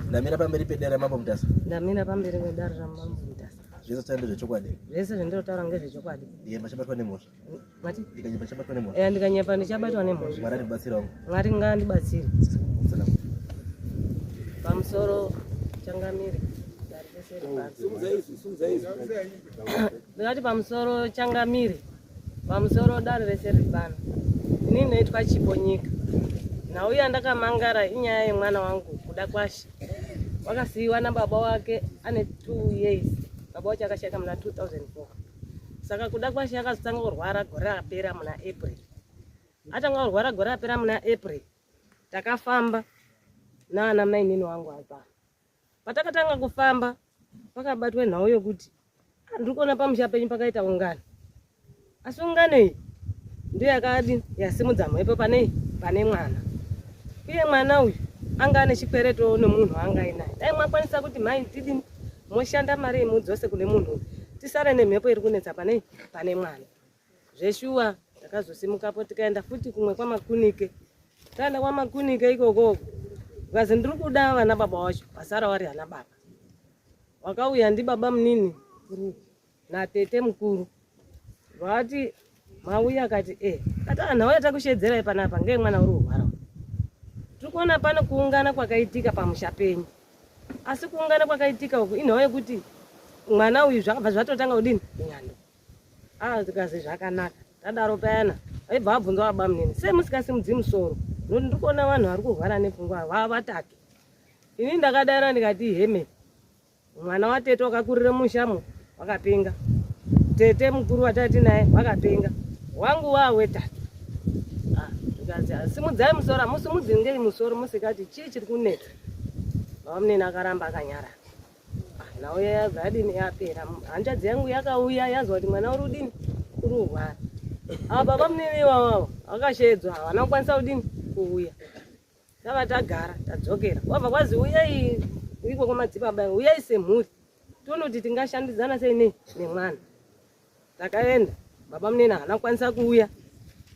ndamira pamberi pedare ramambo mutasa ndamira pamberi pedare ramambo mutasa zvese zvaita ndezvechokwadi zvese zvandinotaura ngezvechokwadi ye machabatwa nemhosva mati ndikanyepa chabatwa nemhosva e ndikanyepa ndichabatwa nemhosva mwari andibatsira wangu mwari ngaandibatsire pamusoro changamire ndikati pamusoro changamire Pamusoro wedare rese riri pano, ini ndinoitwa Chipo Nyika. Nhau yandakamangara inyaya yemwana wangu kuda kwashe. Wakasiyiwa nababa wake ane two years. Baba wacho akashaika muna 2004 saka kuda kwashe akazotanga kurwara gore rapera muna April. Atanga kurwara gore rapera muna April, takafamba naana mainini wangu apa Patakatanga kufamba pakabatwa nhau yokuti ah, ndiri kuona pamusha penyu pakaita ungano asi ungano iyi ndiyo yakadi yasimudza mhepo pane pane mwana uye mwana uyu anga ane chikweretowo nomunhu waanga ainaye dai mwakwanisa kuti mhai ndidini moshanda mari yemudzose kune munhu uyu tisare nemhepo iri kunetsa pane pane mwana zveshuwa takazosimukapo tikaenda futi kumwe kwamakunike taenda kwamakunike ikokoko ukazi ndiri kuda vana baba wacho vasara wari ana baba wakauya ndibaba munini natete mukuru vati mauya akati e eh, ati anhu auya takushedzerai panapa ngee mwana uri kurwara tiri kuona pano kuungana kwakaitika pamusha penyu asi kuungana kwakaitika uku inhau yekuti mwana uyu zvakabva zvatotanga kudini nyando Ah, zikazi zvakanaka tadaro payana aibva abvunza baba munini sei musikasimudzi musoro nokuti ndiri kuona vanhu vari kurwara nepfungwa vava vatatu ini ndakadaira ndikati heme mwana watete wakakurira mushamo wakapenga tete mukuru watati naye wakapenga wangu waa wetatu ah, ndikati ah, simudzai musoro hamusimudzi ngei musoro musikati chii chiri kunetsa baba munini akaramba akanyarara Nauya yabva adini yapera. Hanzvadzi yangu yakauya yazwa kuti mwana uri udini uri kurwara. Ava baba munene iwawawo vakashedzwa havana kukwanisa kudini kuuya. Tava tagara tadzokera. Wabva kwazi uyai iko kwamadzibaba uyai semhuri. Toona kuti tingashandidzana sei nei nemwana. Takaenda baba munene havana kukwanisa kuuya.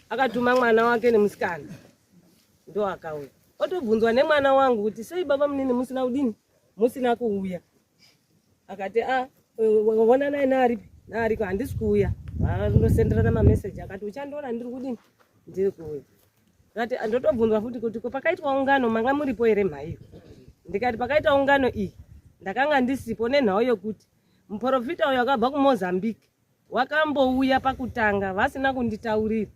Akatuma mwana wake nemusikana. Ndo akauya. Otobvunzwa nemwana wangu kuti sei baba munene musina kudini musina kuuya akati a ah, wona naye naaripi naariko handisi kuuya vandosenderana mameseji akati uchandiona ndiri kudini ndiri kuuya akati ah, ndotobvunzwa futi kuti ko pakaitwa ungano manga muripo here mhaiyo ndikati pakaita ungano iyi ndakanga ndisipo nenhau yokuti muprofita uyo akabva kumozambique Wakambouya pakutanga vasina kunditaurira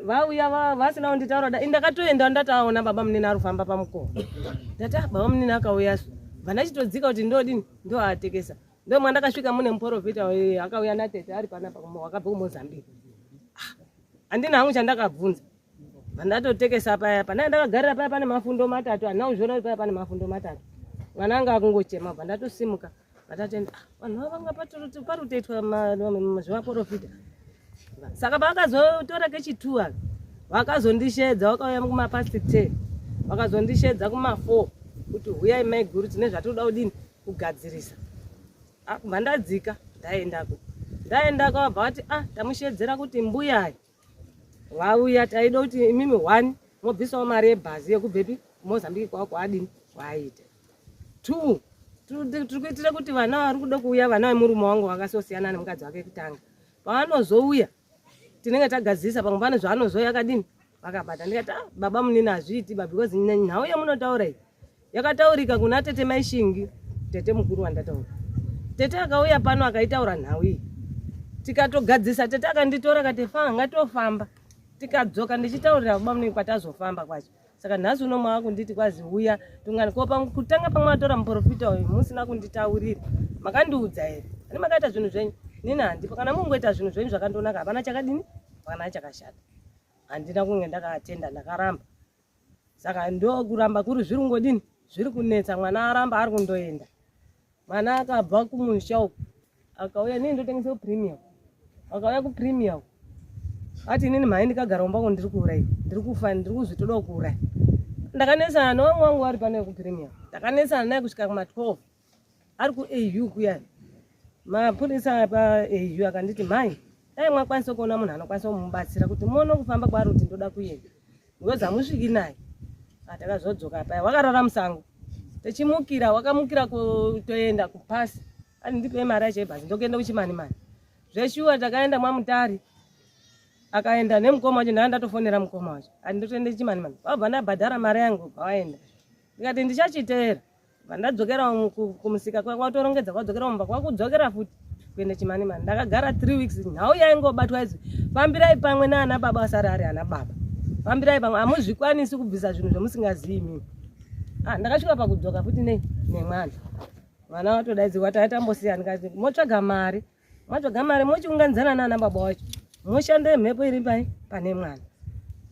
vauya vasina kunditaura da ndakatoenda ndataona baba munini ari kufamba pamukova ndati ah, baba munini akauya su vandachitodzika kuti ndodini ndoatekesa ndo mwandakasvika mune muporofita akauya natete ari panapa wakabva kumozambique ah, handina hangu chandakabvunza vandatotekesa paya panaa ndakagarira paya pane mafundo matatu handina kuzviona kuti paya pane mafundo matatu mwana anga akungochema bva ndatosimuka vatatenda ah, vanhu vavo vanga parutoitwa zvevaporofita saka pavakazotora kechituwa vakazondishedza vakauya kumapasti ten vakazondishedza kumafour kuti huyai maiguru tine zvatinoda kudini kugadzirisa ah, kubva ndadzika ndaendako ndaendako vabva vati ah tamushedzera kuti mbuyai vauya taida kuti imimi one mobvisawo mari yebhazi yekubvepi kumozambiki kwavo kwaadini kwaaita two tiri kuitira kuti vana vari kuda kuuya vana vemurume wangu vakasosiyana nemukadzi wake kutanga pavanozouya tinenge tagadzirisa pamwe pane zvaanozouya akadini vakabata ndikati ah, baba munini hazviiti ba because nhau yamunotaura iyi Yakataurika kuna tete mai Shingi, tete mukuru wandataura. Tete akauya pano akaitaura nhau iyi. Tikatogadzisa tete akanditora akati fanga ngatofamba. Tikadzoka ndichitaurira baba munenge kwatazofamba kwacho. Saka nhasi uno mwava kunditi kwazi uya tungani ko pamwe kutanga pamwe atora muprofita uyu musina kunditaurira. Makandiudza here? Ani makaita zvinhu zvenyu? Nini handipo kana mungoita zvinhu zvenyu zvakandonaka hapana chakadini? Hapana chakashata. Handina kunge ndakaatenda ndakaramba. saka ndokuramba kuri zviri kungodini zviri kunetsa mwana aramba ari kundoenda mwana akabva kumusha uku akauya nini ndotengesa kupremium akauya kupremium ati inini mhai ndikagara umba ko ndiri kuuraya ndiri kufa ndiri kuzvitodawo kuuraya ndakanetsana nowamwe wangu wari pano yekupremium ndakanetsana naye kusvika kuma 12 ari kuau kuyani mapurisa paau akanditi mhai dai mwakwanisa kuona munhu anokwanisa kumubatsira kuti muone kufamba kwaari kuti ndoda kuenda because hamusviki naye atakazodzoka ah, paya wakarara musango techimukira wakamukira kutoenda kupasi ani ndipe mari yacho yebhasi ndokuenda kuchimani mani zveshuwa takaenda mwamutari akaenda nemukoma wacho ndaa ndatofonera mukoma wacho ani ndotoenda chimani mani vabva ndabhadhara mari yangu bva waenda ndikati ndichachiteera Vandadzokera kumusika kwanga utorongedza kwadzokera mumba kwakudzokera futi kuenda chimani mani ndakagara 3 weeks nhau yaingobatwa izvi fambirai pamwe naana baba asari ari ana baba fambirai pamwe hamuzvikwanisi kubvisa zvinhu zvamusingazivi mimi ah, ndakasvika pakudzoka futi nei nemwana mwana watodaidzirwa taa tambosiyani kati motsvaga mari mwatsvaga mari mochiunganidzana naana baba wacho moshande mhepo iri pai pane mwana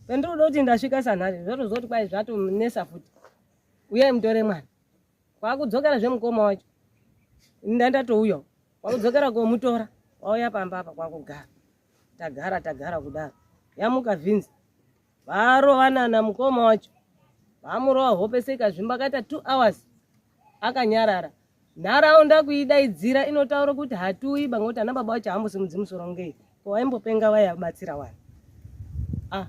pendiri kuda kuti ndasvika sanhari zvotozoti kwai zvatonesa futi uyai mutore mwana kwakudzokera zvemukoma wacho ndandatouya kwakudzokera komutora wauya pamba apa kwakugara tagara tagara kudaro yamuka vinzi varovanana mukoma wacho vamurova hope seikazvimba akaita two hours akanyarara Nharaunda kuidaidzira inotaura kuti hatiuyi banga kuti ana baba vacho hambosimudzi musoro ngei ko waimbopenga vaya batsira wani ah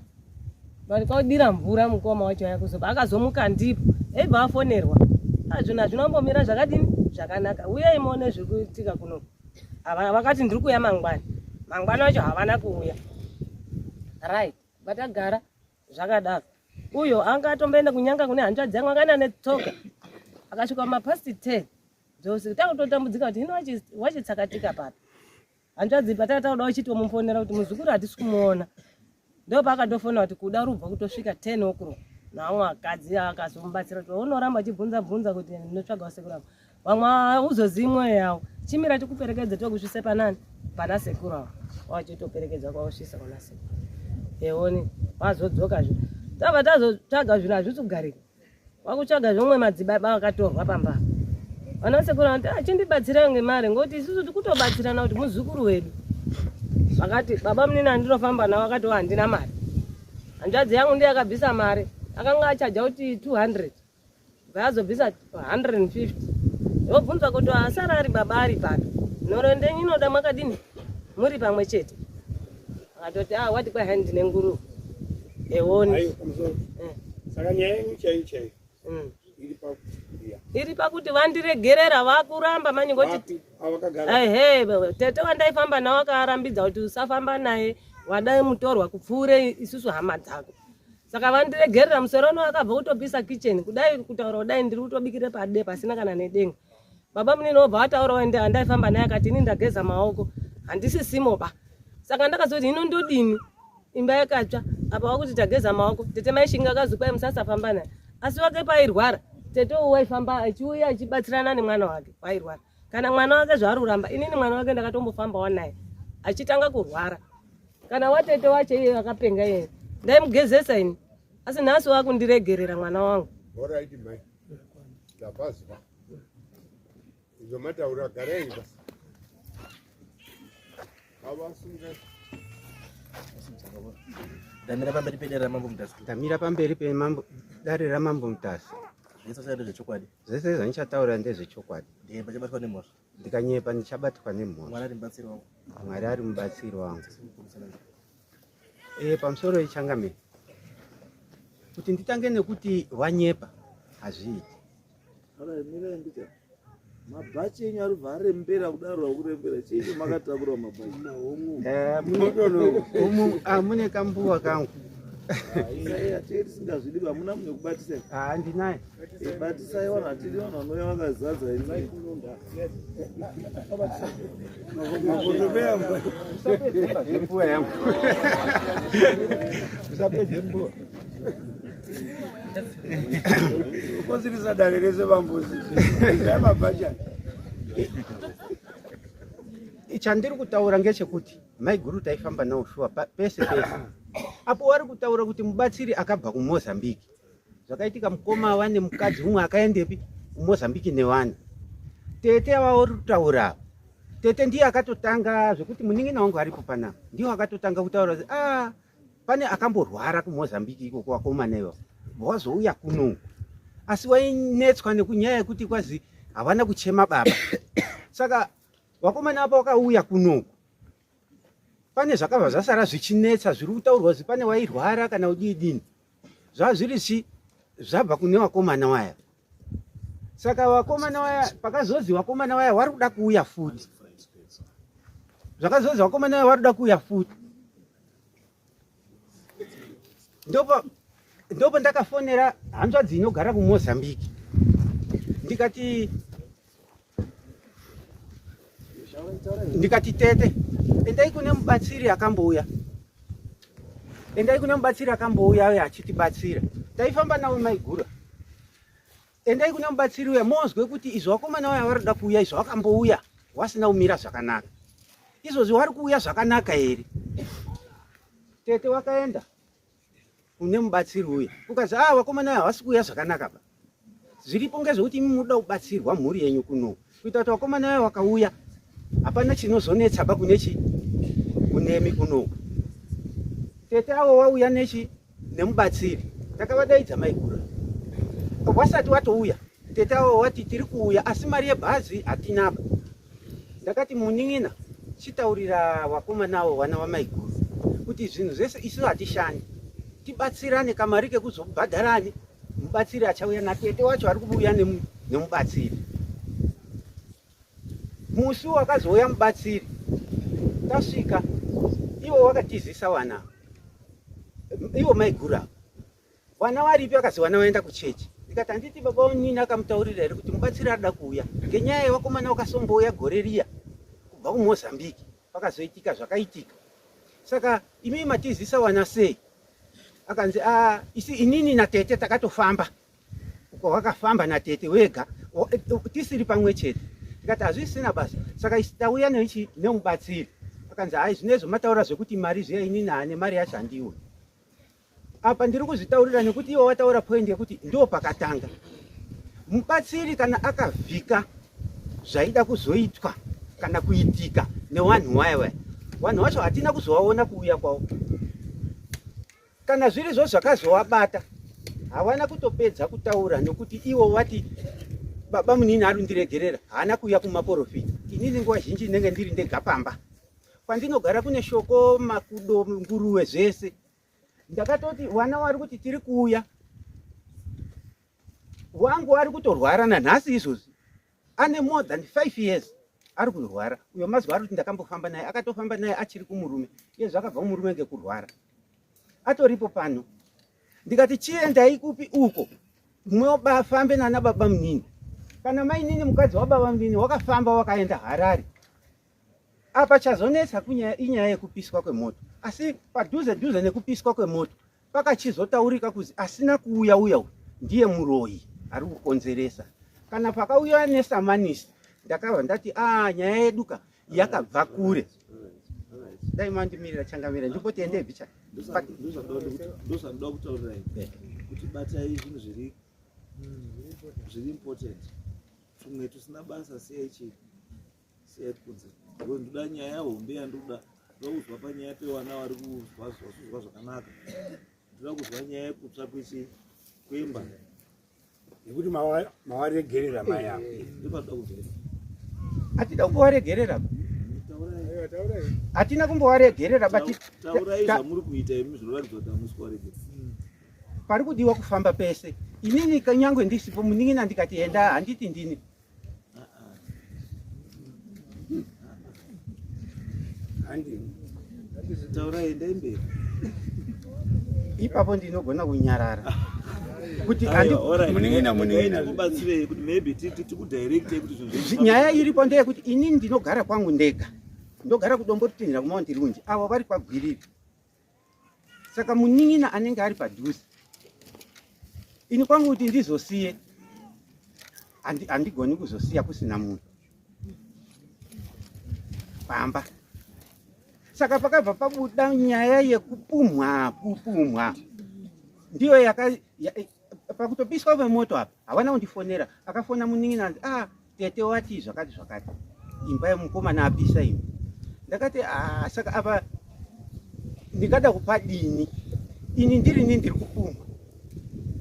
vani kwaudira mvura mukoma wacho waya kuzoba akazomuka ndipo aibva afonerwa azvinhu ah, hazvina kumbomira zvakadini zvakanaka uyai muone zviri kuitika kuno vakati ndiri kuuya mangwana mangwana wacho havana kuuya right vatagara zvakadaro uyo anga atomboenda kunyanga kune hanzvadzi yangu akaenda netsoka akasvika mapasti ten dzose takutotambudzika kuti hino wachitsakatika papi hanzvadzi pataka tauda uchitomufonera kuti muzukuru hatisi kumuona ndo paakatofona kuti kuda rubva kutosvika ten okro naamwe akadzi akazomubatsira kuti unoramba achibvunza bvunza kuti ndinotsvaga wasekuramba Vamwe hauzozivi mwoyo yavo. Chimira tikuperekedze tokusvise panani pana sekuru avo. Wachitoperekedza kwausvisa kuna sekuru. Eoni wazodzoka zve. Tava tazotsvaga zvinhu hazvisi kugarika. Wakutsvaga zvomwe madzibaba vakatorwa pamba. Vana sekuru vanoti ah, chindibatsira ngemari ngoti isusu tikutobatsirana kuti muzukuru wedu. Vakati baba munini andinofamba navo vakati handina mari. Hanzvadzi yangu ndiye akabvisa mari. Akanga achaja kuti 200. ngaazobvisa 150 ndobvunza kuti asara ari baba ari pano nhoro ndenyu inoda makadini muri pamwe chete akatoti a ah, wati kwai hai ndine nguru eoni eh. saka nyaya yenyu chaiyo chaiyo mm. iri pakuti vandiregerera vakuramba manye ngoti ehe tete wandaifamba nawo akarambidza kuti usafamba naye wadai mutorwa kupfuure isusu hama dzako saka vandiregerera musoro uno akabva kutopisa kitchen kudai kutaura kudai ndiri kutobikira pade pasina kana nedenga baba munini obva vataura waende andaifamba naye akati ini ndageza maoko handisi simo ba saka ndakazoti hino ndodini imba yakatsva apa wakuti tageza maoko tete maishinga akazi kwai musasafamba naye asi wake pairwara tete uwaifamba achiuya achibatsirana nemwana wake wairwara kana mwana wake zvaari kuramba inini mwana wake ndakatombofambawo naye achitanga kurwara kana watete wacho iye akapenga iye ndaimugezesa ini asi nhasi wakundiregerera mwana wangu orit mai ndapazwa izvo mataura garai basi ndamira pamberi pedare ramambo mutasi ndamira pamberi pedare ramambo mutasi zvese zvaita zvechokwadi zvese zvandichataura ndezvechokwadi ndikanyepa ndichabatwa nemhosva mwari ari mubatsiri wangu e, pamusoro ichangamire kuti nditange nekuti wanyepa hazviiti mabhachi enyu ari bva arembera kudaro akurembera chii makatakura mabhachi eh, ah, mune kambuwa kangu ah, tisingazvidi vamuna mune kubatisa handinaye ah, batisaiwa natiri vanhu vanouya vakazadza ukozivisa dare rese vambuzi amabhajani chandiri kutaura ngechekuti maiguru taifamba nawo shuwa pese pese apo wari kutaura kuti mubatsiri akabva kumozambique zvakaitika mukoma wane mukadzi umwe akaendepi kumozambiki newani tete avaori kutaura ava tete ndiye akatotanga zvekuti munin'ina wangu aripo panapa ndiwo akatotanga kutaura kuti ah, pane akamborwara kumozambiki ikoko wakomana ivo vazouya kuno asi wainetswa nekunyaya yekuti kwazi havana kuchema baba saka wakomana apa wakauya kunoku pane zvakabva zvasara zvichinetsa zviri kutaurwa kuti pane wairwara kana udiidini zvazviri zvi zvabva kune vakomana waya saka vakomana waya pakazonzi vakomana waya wari kuda kuuya futi zvakazonzi vakomana waya wari kuda kuuya futi ndopa ndopo ndakafonera hanzvadzi inogara kumozambique ndikati ndikati tete endai kune mubatsiri akambouya endai kune mubatsiri akambouya uye achitibatsira taifamba nawo maigura endai kune mubatsiri uya monzwe kuti izvo vakomana uya vari kuda kuuya izvo vakambouya wasina kumira zvakanaka izvozvi wari kuuya zvakanaka here tete wakaenda kune mubatsiri uya ukazi ah vakomana ava havasi kuuya zvakanaka ba zviripo ngezvekuti imi munoda kubatsirwa mhuri yenyu kuno kuita kuti vakomana vaya vakauya hapana chinozonetsa ba kune chi kunemi kuno tete avo wauya nechi nemubatsiri takavadaidza maigura wasati watouya tete avo wati tiri kuuya asi mari yebhazi hatinaba Ndakati munin'ina chitaurira vakomana avo vana vamaiguru kuti zvinhu zvese isu hatishandi tibatsirane kamari kekuzobhadharani mubatsiri achauya natete wacho ari kubuya nemubatsiri musi wakazouya mubatsiri tasvika ivo wakatizisa vana ivo maiguru avo vana varipi akazi vana vaenda kuchechi ndikati handiti baba unini akamutaurira here kuti mubatsiri arida kuuya ngenyaya yevakomana vakasombouya gore riya kubva kumozambique pakazoitika zvakaitika saka imii matizisa wana sei akanzi a ah, isi inini natete takatofamba uko wakafamba natete wega tisiri pamwe chete tikati hazvisina basa saka isi tauya neichi nemubatsiri akanzi hai zvinezvo mataura zvekuti mari zviya inini hane mari yacho handiwe apa ndiri kuzvitaurira nekuti iwe wataura point yekuti ndo pakatanga mubatsiri kana akavhika zvaida kuzoitwa kana kuitika newanhu waya waya vanhu vacho hatina kuzovaona kuuya kwavo kana zviri zvo zvakazovabata havana kutopedza kutaura nokuti ivo vati baba munini ari kundiregerera haana kuuya kumaporofita inini nguva zhinji ndinenge ndiri ndega pamba kwandinogara kune shoko makudo nguruve zvese ndakatoti vana wari kuti tiri kuuya wangu ari kutorwara nanhasi izvozvi ane more than five years ari kurwara uyo mazuva ari kuti ndakambofamba naye akatofamba naye achiri kumurume iye zvakabva kumurume ngekurwara atoripo pano ndikati chiendai kupi uko mobafambe nana baba munini kana mainini mukadzi wababa munini wakafamba wakaenda harare Apa chazonetsa kunyaya inyaya yekupiswa kwemoto, asi padhuze dhuze nekupiswa kwemoto pakachizotaurika kuzi asina kuuya uya uyu ndiye muroyi ari kukonzeresa. Kana pakauya nesamanisi ndakabva ndati a ah, nyaya yedu ka yakabva kure. Dai mandimirira changamira ndipo tiende bicha. Ndozvanoda kutaurira eh. kuti batai zvinhu zviri zviri important tumwe tusina basa sei chii Siyat kunze. Wewe ndoda nyaya hombe yandoda. Ndokuzwa panyaya pewana wari kuzwa zvazvozwa zvakanaka. Ndoda kuzwa nyaya yekutsva kwechi kwemba. Nekuti mawaregerera maya. Eh, eh, eh, Ndipo ndoda kuzwa. Atida kuwaregerera. Atina kumbowaregerera but taurai zvamuri kuita imi zvinoratidza kuti hamusi kuwaregerera. Hmm. Pari kudiwa kufamba pese. Inini kanyangwe ndisipo munin'ina ndikati enda handiti ndini. ipapo ndinogona kunyarara kuti nyaya iripo ndeyekuti ini ndinogara kwangu ndega ndogara kudombo rutindira kumaunti runji avo vari kwagwiriri saka munin'ina anenge ari padhuze ini kwangu kuti ndizosiye handigoni kuzosiya kusina munhu pamba saka pakabva pabuda nyaya yekupumhwa kupumhwa ndiyo pakutopiswa vemoto apa havana kundifonera akafona munin'ina anzi a ah, tete wati zvakati zvakati imba yemukomana apisa imi ndakati ah, saka apa ndingada kupa dini ini ndiri ni ndiri kupumha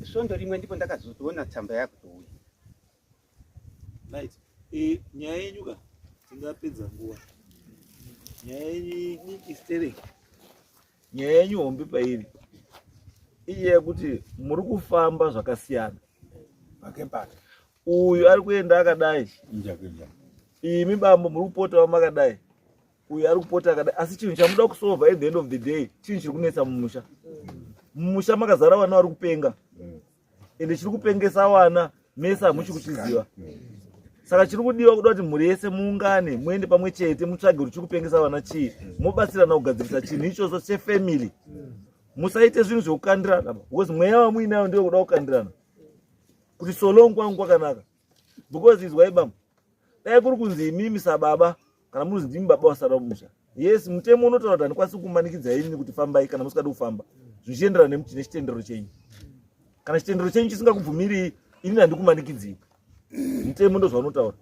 svondo rimwe ndipo ndakazotoona tsamba yakutouya right e, nyaya yenyu ka tingapedza nguva nyaya yenyu istere nyaya yenyu hombe pairi iye yekuti muri kufamba zvakasiyana pake pake Uyu ari kuenda akadai. Imi bambo muri kupotawo makadai. Uyu ari kupota akadai. Asi chinhu chamuda kusolva at the end of the day chinhu chiri kunetsa mumusha. Mumusha makazara vana vari kupenga. Mm. Ende chiri kupengesa vana mese hamuchi kuchiziva. Mm. Saka chiri kudiwa kuda kuti mhuri yese muungane muende pamwe chete mutsvage kuti chiri kupengesa vana chii. Mm. Mobatsirana kugadzirisa chinhu ichocho chefamily. Musaite zvinhu zvekukandirana. Because mweya wamuinayo ndewe kuda kukandirana. kuti solong kwangu kwakanaka because izwai bambo dai kuri kunzi imimi sababa kana muruzi ndimi baba wasara musha yes mutemo unotaura kuti handikwanisi kumanikidza ini kuti fambai kana musikadi kufamba zvichienderana nemuti nechitendero chenyu kana chitendero chenyu chisingakubvumirii ini handikumanikidzii mutemo ndozvaunotaura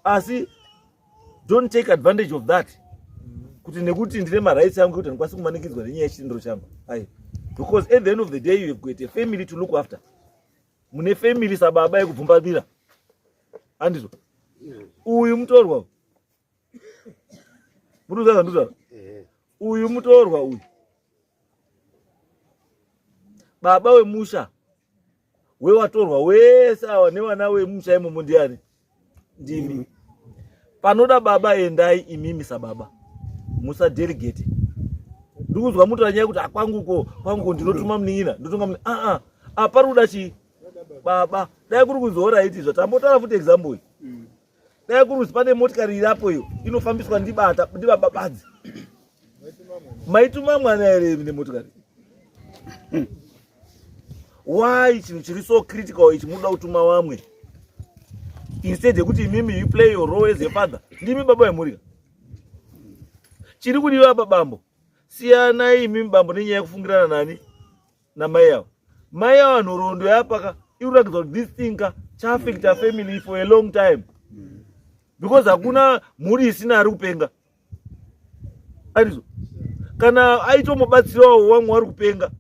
asi don't take advantage of that kuti nekuti ndine marights angu kuti handikwanisi kumanikidzwa nenyaya yechitendero changu ai because at the end of the day you have got a family to look after mune family sababa yekubvumbabira andizvo uyu mutorwa muruza zandizvaa uyu mutorwa uyu baba wemusha wewatorwa wese awa nevana wemusha imomo ndiani ndimi panoda baba endai imimi sababa musadelegate ndikuzwa mutora nyaya kuti akwanguko ah, kwanguko ndinotuma munin'ina ndotonga muni aa ah, ah, apari kuda chii baba dai kuri kuzoora aiti izva tambotaura futi example iyi dai kurudzi pane motikari irapo iyo inofambiswa ndibata ndibababadzi maituma mwana here nemotikari why chinhu chiri so critical ichi munoda kutuma vamwe instead yekuti imimi you play your role as a father ndimi baba vemhurika chiri kudiwa apa bambo siyanai imimi bambo nenyaya yekufungirana nani namai avo mai avo nhoroondo yapaka ikuratidza kuti this thing ka chaafecta family for a long time because hakuna mhuri isina ari kupenga andizvo kana aitomobatsirawo wamwe wari kupenga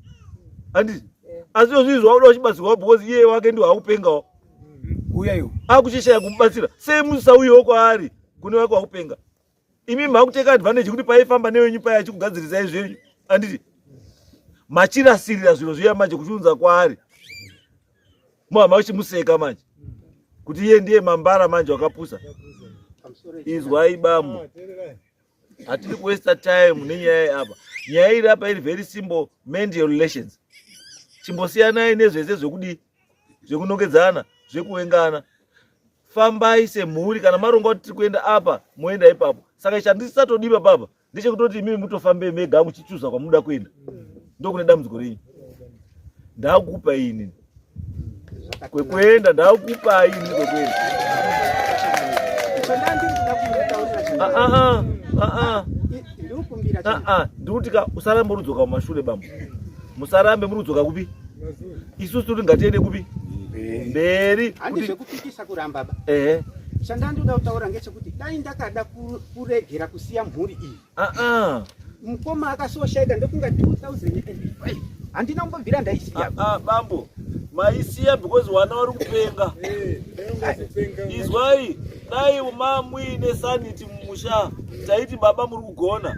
andizvo asi izvo zvii zvauda uchibatsirwa because iye wake ndiwo akupengawo uyayo akuchishaya kumubatsira semusauyewo kwaari kune wake wakupenga imi makuteka advantage yekuti paifamba newenyu paya achikugadzirisai zvenyu anditi machirasirira zviro zviya manje kuchiunza kwaari muhama uchimuseka manje kuti iye ndiye mambara manje wakapusa izwai bambo hatiri kuwesta time nenyaya iyi apa nyaya iri apa iri very simple mend your relations chimbosiyanai nezvese zvekudii zvekunongedzana zvekuengana fambai semhuri kana maronga kuti tiri kuenda apa moenda ipapo saka chandisatodipa papa ndechekutoti imimi mutofambei mega muchichuza kwamunoda kuenda ndokune dambudziko renyu ndakupa ini kwekuenda ndakupa ini kwekuenda ndikuti ka usaramborudzwa kamashure bambo musarambe muri kudzoka kupi isusu tiri ngatiende kupi mberi handi zvekupikisa kuramba ba ehe chandandoda kutaura ngechekuti dai ndakada kuregera kusiya mhuri iyi aa mukoma akasoshaika ndokunga 2005 handina kumbobvira ndaisiya aa bambo maisiya because wana wari kupenga izwai dai mamuine sanity mumusha taiti baba muri kugona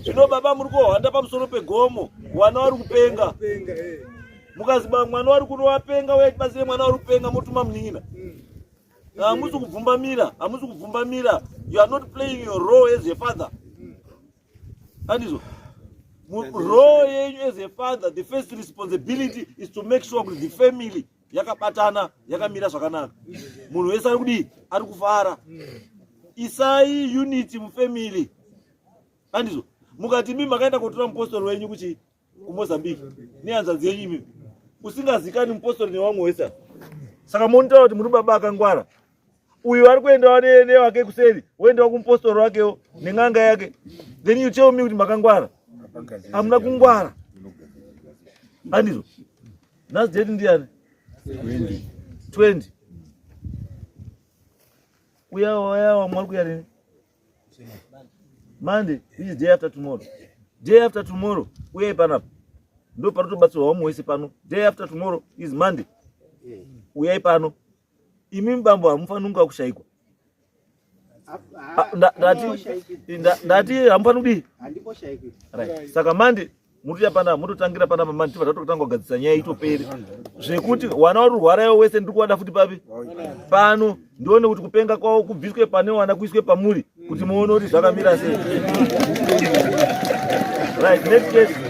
zvino baba muri kuhwanda pamusoro pegomo mwana wari kupenga mukaziba mwana wari kuno wapenga uye tibatsire mwana wari kupenga motuma munin'ina hamusi kubvumbamira hamusi kubvumbamira you are not playing your role as a father andizvo role yenyu as a father the first responsibility is to make sure kuti the family yakabatana yakamira zvakanaka munhu wese ari kudii ari kufara isai unity mufamily andizvo mukati mi makaenda kotora mupostori wenyu kuchi kumozambique nehanzvadzi yenyu imi usingazikani mupostori newamwe wese saka monitaura kuti muri baba akangwara uyu vari kuendawo newake kuseri woendawo kumupostori wakewo nen'anga yake then you tell me kuti makangwara hamuna kungwara andizvo nhasi date ndiyani 20 uyawo uyawo mwari kuya rini monday which is day after tomorrow day after tomorrow uyai panapa ndo panotobatsirwa wamwe wese pano day after tomorrow is monday uyai pano imi mubambo hamufanunga kushaikwa ndati hamufani kudii saka mandi mutoya panapa mutotangira panapa mandi tibva tatotanga kugadzisa nyaya itoperi zvekuti wana wari kurwara iwo wese ndiri kuwada futi papi pano ndione kuti kupenga kwavo kubviswe pane wana kuiswe pamuri kuti muone kuti zvakamira sei right next case